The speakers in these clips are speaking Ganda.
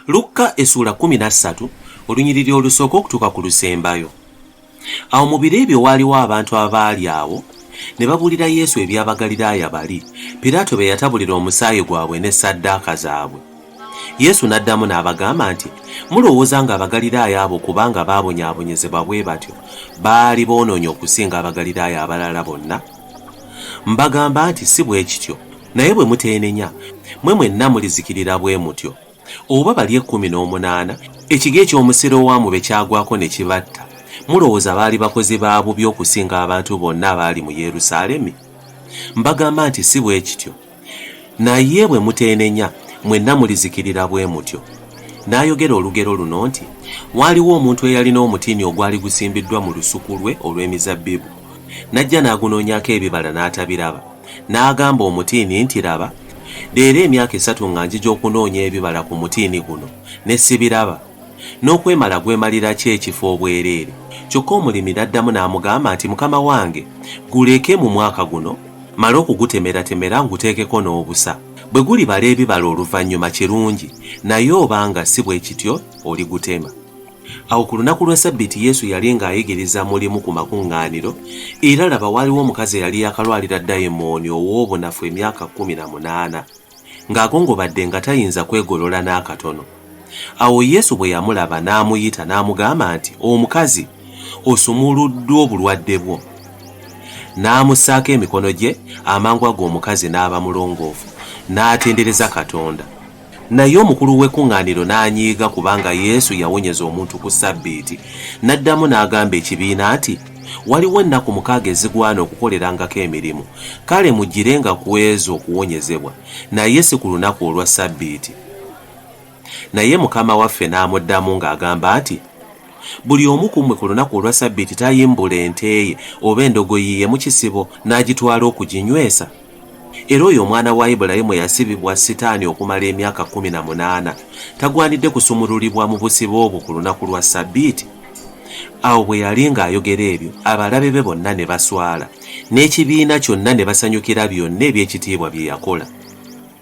lukka esuula kumi na ssatu olunyiriri olusooka okutuuka ku lusembayo awo mu biro ebyo waaliwo abantu abaali awo ne babuulira yesu ebyabagaliraaya bali piraato be yatabulira omusaayi gwabwe ne saddaaka zaabwe yesu n'addamu n'abagamba nti mulowooza nga abagaliraaya abo kubanga baabonyaabonyezebwa bwe batyo baali boonoonye okusinga abagaliraaya abalala bonna mbagamba nti si bwe kityo Naye bwe muteenenya, mmwe mwenna mulizikirira bwe mutyo. Oba bali ekkumi n'omunaana, ekige eky'Omusirowamu be kyagwako ne kibatta, mulowooza baali bakozi ba bubi okusinga abantu bonna abaali mu Yerusaalemi? Mbagamba nti si bwe kityo. Naye bwe muteenenya, mwenna mulizikirira bwe mutyo. N'ayogera olugero luno nti, Waaliwo omuntu eyalina omutiini ogwali gusimbiddwa mu lusuku lwe olw'emizabbibu. N'ajja n'agunoonyako ebibala n'atabiraba. N'agamba omutiini nti, Laba, leero emyaka esatu nga njija okunoonya ebibala ku mutiini guno, ne sibiraba. N'okwemala gwemalira ki ekifo obwereere? Kyokka omulimi n'addamu n'amugamba nti, Mukama wange, guleke mu mwaka guno, mmale okugutemeratemera nguteekeko n'obusa. Bwe gulibala ebibala oluvannyuma kirungi, naye oba nga si bwe kityo, oligutema. Awo ku lunaku lwa Ssabbiiti Yesu yali ng'ayigiriza mu limu ku makuŋŋaaniro, era laba waaliwo omukazi eyali yakalwalira dayimooni ow'obunafu emyaka kkumi na munaana, ng'agongobadde nga tayinza kwegolola n'akatono. Awo Yesu bwe yamulaba n'amuyita n'amugamba nti, Omukazi, osumuluddwa obulwadde bwo. N'amussaako emikono gye, amangu ago omukazi n'aba mulongoofu, n'atendereza Katonda. Naye omukulu w'ekkuŋŋaaniro n'anyiiga kubanga Yesu yawonyeza omuntu ku Ssabbiiti. N'addamu n'agamba ekibiina nti, Waliwo ennaku mukaaga ezigwana okukolerangako emirimu, kale mujjirenga ku ezo okuwonyezebwa, naye si ku lunaku olwa Ssabbiiti. Naye Mukama waffe n'amuddamu ng'agamba nti, Buli omu ku mmwe ku lunaku olwa Ssabbiiti tayimbula ente ye oba endogoyi ye mu kisibo n'agitwala okuginywesa? Era oyo omwana wa Ibulayimu eyasibibwa Sitaani okumala emyaka kkumi na munaana tagwanidde kusumululibwa mu busibe obwo ku lunaku lwa Ssabbiiti? Awo bwe yali ng'ayogera ebyo, abalabe be bonna ne baswala, n'ekibiina kyonna ne basanyukira byonna eby'ekitiibwa bye yakola.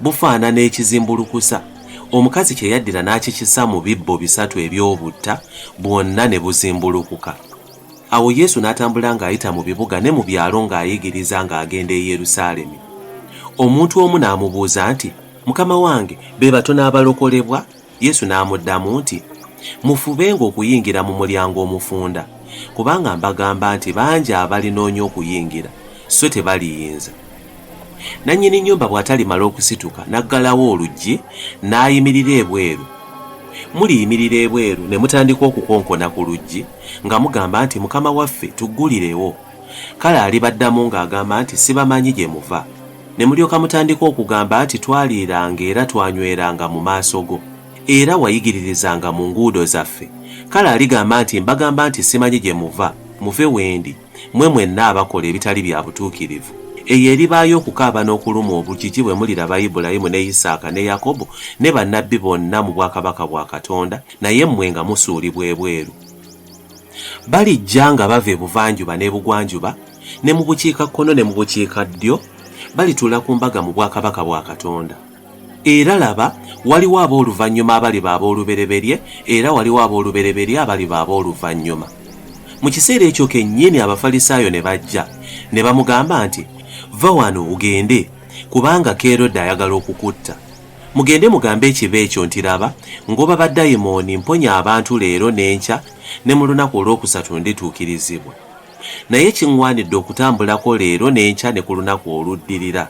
bufaanana ekizimbulukusa omukazi kye yaddira n'akikisa mu bibbo bisatu eby'obutta bwonna ne buzimbulukuka awo yesu n'atambula ng'ayita mu bibuga ne mu byalo ng'ayigiriza ng'agenda e yerusaalemi omuntu omu n'amubuuza nti mukama wange be batono abalokolebwa Yesu n'amuddamu nti, Mufubenga okuyingira mu mulyango omufunda, kubanga mbagamba nti bangi abalinoonya okuyingira, sso tebaliyinza. Nannyini nnyumba bw'atalimala okusituka n'aggalawo oluggi, n'ayimirira ebweru, muliyimirira ebweru ne mutandika okukonkona ku luggi, nga mugamba nti, Mukama waffe, tuggulirewo. Kale alibaddamu ng'agamba nti, Sibamanyi gye muva. Ne mulyoka mutandika okugamba nti twaliiranga era twanyweranga mu maaso go, era wayigiririzanga mu nguudo zaffe. Kale aligamba nti, Mbagamba nti simanyi gye muva, muve wendi, mmwe mwenna abakola ebitali bya butuukirivu. Eyo eribaayo okukaaba n'okulumwa obujiji bwe muliraba Ibulayimu ne Isaaka ne Yakobo ne bannabbi bonna mu bwakabaka bwa Katonda, naye mmwe nga musuulibwa ebweru. Balijja nga bava ebuvanjuba n'ebugwanjuba, ne mu bukiika kkono ne mu bukiika ddyo, balituula ku mbaga mu bwakabaka bwa Katonda. Era laba, waliwo ab'oluvannyuma abaliba ab'olubereberye, era waliwo ab'olubereberye abaliba ab'oluvannyuma. Mu kiseera ekyo kennyini Abafalisaayo ne bajja, ne bamugamba nti, Va wano ogende, kubanga Kerode ayagala okukutta. Mugende mugambe ekibe ekyo nti, Laba, ngoba badayimooni, mponya abantu leero n'enkya, ne mu lunaku olw'okusatu ndituukirizibwa. Naye kiŋŋwanidde okutambulako leero n'enkya ne ku lunaku oluddirira,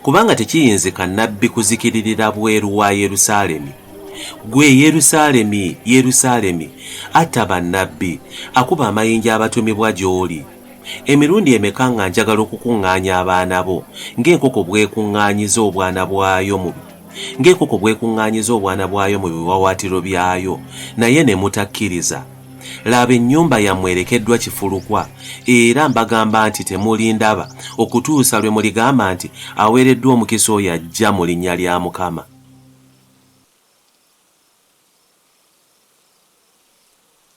kubanga tekiyinzika nnabbi kuzikiririra bweru wa Yerusaalemi. Ggwe Yerusaalemi, Yerusaalemi, atta bannabbi, akuba amayinja abatumibwa gy'oli! Emirundi emeka nga njagala okukuŋŋaanya abaana bo, ng'enkoko bw'ekuŋŋaanyiza obwana bwayo mu. Ng'enkoko bw'ekuŋŋaanyiza obwana bwayo mu biwaawaatiro byayo, naye ne mutakkiriza, laba, ennyumba yammwe erekeddwa kifulukwa, era mbagamba nti temulindaba, okutuusa lwe muligamba nti, Aweereddwa omukisa oyo ajja mu linnya lya Mukama.